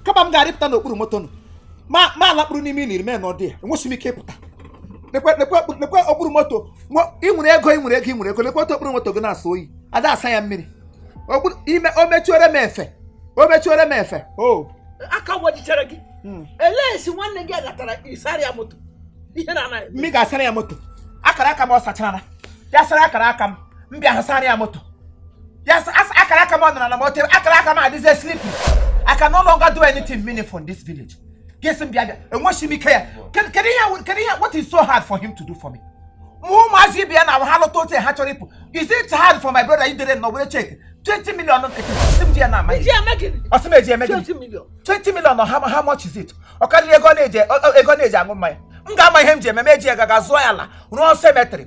kama m ga-arịpụta n'okpuru moto nụ ma m alakpuru n'ime ili mee n'ọdị ya enwesị m ike ịpụta lekwe lekwe lekwe okpuru moto nwe- ị nwere ego ị nwere ego ị nwere ego lekwe otu okpuru moto gị na-asọ oyi ada asa ya mmiri okpuru ime o mechuere m efe o mechuere m efe o aka wajichara gị Mm. elee esi nwanne gị agatara ịsara ya moto ihe na anaghị mmiri ga-asara ya moto akara aka m ọ sachara ya sara akara aka m m bịa asara ya moto ya s- as- akara aka m ọ nọrọ na moto akara aka m adịzie sleeping I can no longer do anything meaningful in this village gị sị m bịa bịa enweghị m ike ya kedu kedu ihe wụ- kedu ihe what is so hard for him to do for me ma ụmụazị ibe ya na ha lụta otu ha chọrọ ịpụ is it hard for my brother idere nọ were cheque 20 million nkịtị sị m ji ya na amaghị Ji eme gịnị? ọ sị m eji eme gịnị 20 million. 20 million ọ how, how much is it ọ karịrị ego ọ na-eji ọ- ọ- ego ọ na-eji aṅụ mmanya m ga-ama ihe m ji eme m eji ya gaga zụọ ya ala rụọ cemetery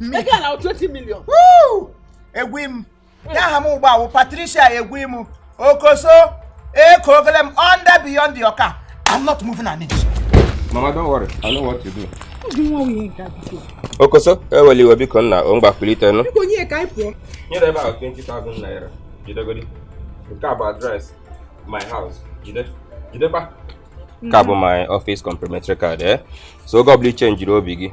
ego ala 20 million egwu m ya aha m ugbu a wụ Patricia Egwum okoso eko ogele m under beyond your car I'm not moving an inch mama don't worry I know what to do okoso eweli iwe biko nna o ngwa kulite nụ nyere about 20,000 naira jidegodi nke a bụ address my house jide jidekwa nke a bụ my office complimentary card eh so oge ọ bụla i chenjiri obi gị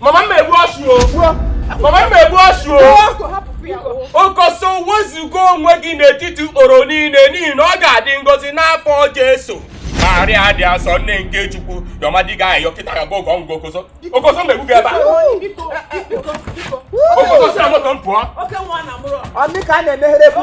Mama m egbu ọsụ o. Mama m egbu ọsụ o. Okoso wezuga onwe gị n'etiti ikporo niile n'ihi na ọ ga-adị ngọzi n'afọ Jesu. Maria dị asọ nne nke Chukwu yọba ndị a ayịyọ kịta ga gogo ngwa okoso. Okoso m egbuo gị ebe a. Okoso si na moto m pụọ. Ọ dị ka a na-emeghere bụ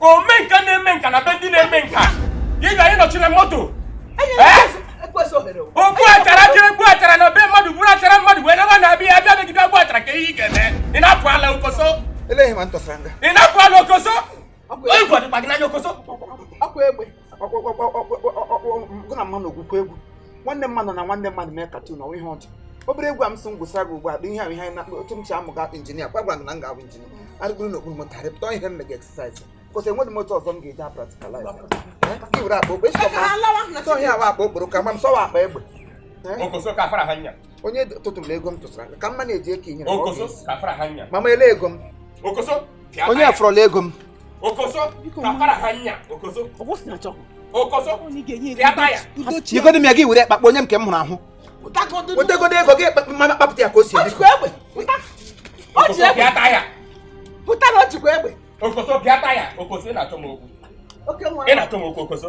omenka na-eme nka na be ndị na-eme nka ị ga ịnọchiri moto ogbu achara jiri gbu achara na be mmadụ buru achara mmadụ wee naba na-abịa abịa megide ogbu achara ka ihe ị ga-eme ị na-apụ ala okoso ị na-apụ ala okoso onye gwadịkwa gị n'anya okoso gụ na mmanụ ogwukwa egwu nwanne mmadụ na nwanne mmadụ mekatanụ ọ wụ ihe ọjọọ obere egwu a m sị m gụsara gị ugbu a bụ ihe ahụ ihe na otu m si amụ ga injinia kwa gwara na m ga-abụ injinia arịgoro na okpuru moto arịpụta ihe m mega exercise because enweghị moto ọzọ m ga-eji practicalize i were akpa okporo ihe awa akpa okporo ka ma m sọwa akpa egbe onye tụtụrụ na ego m tụsara ka mma na-eji eke inyere mama ele ego m onye afọrọla ego m nyegodi m ya gị were kpakọọ nye m nke m hụrụ ahụ wetegodo ego gị mama kpapụta ya ka o si ebe pụtara ọ chịkwa egbe okoso bịata ya okoso ị na-achọ m okwu ị na-achọ m okwu okoso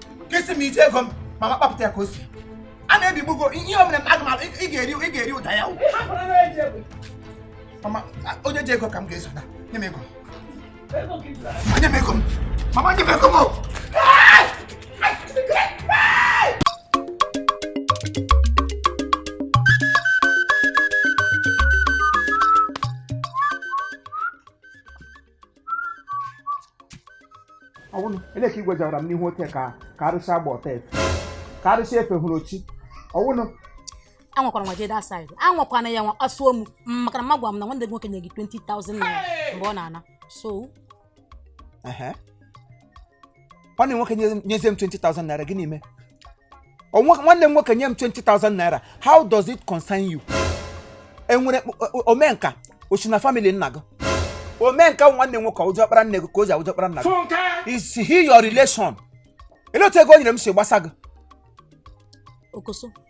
ka isi m ije ego m mama kpapụta ya ka o si a na-ebigbugo ihe o mere m aga m alụ ị ga-eri ị ga-eri ụda ya o. mama a- onye ji ego ka m ga-eso nye m ego m. Ma nye m ego m mama nye m ego m o. ọ bụrụ ele ka igwe jawara m n'ihu ote ka ka arụsị agba ọta efe ka arụsị efe hụrụ ochi ọ bụrụ anwakwara nwa jeda said anwakwana ya nwa kpasuo m m maka na ma gwa m na nwanne gị nwoke nye gị 20,000 naira mgbe ọ na-ana so ehe nwanne m nwoke nye- nyezie m 20,000 naira gịnị mee Ọ nwa- nwanne m nwoke nye m 20,000 naira how does it concern you enwere mkp- o- o- omenka o si na family nna gị omenka bụ nwanne m nwoke ọ wụ diọkpara nne gị ka ọ ya wụ diọkpara nna gị Funke! is he your relation ele otu ego o nyere m si gbasa gị okoso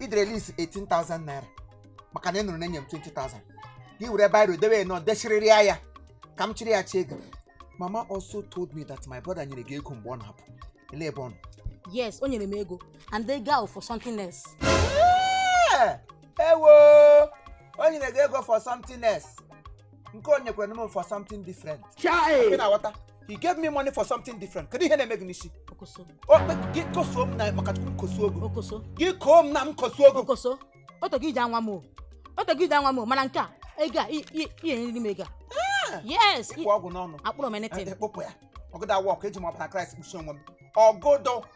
i dere list 18,000 naira maka na ị nụrụ na e nye m 20,000 gị were biro dewe na ọ dechirịrị ya ya ka m chịrị ya chie gị mama also told me that my brother nyere gị ego mgbe ọ na-apụ ele ebe ọ nọ yes o nyere m ego and ego for something else Ee, ewo o nyere gị ego for something else nke o nyekwara m for something different Chai! ị na-aghọta he gave me money for something different kedu ihe na-eme gị n'isi okoso O- gị kosuo m na maka chukwu m kosuo gị okoso gị koo m na m kosuo gị okoso o tego i ji anwa m o o tego i ji anwa m o mana nke a ego a i- i- ị ya-enyeriri m ego a yes ị kpụ ọgwụ n'ọnụ akpụrụ m anything ekpopụ ya ọ gaghị a-work eji m ọbara Kraịst kpuchie onwe m ọ gaghị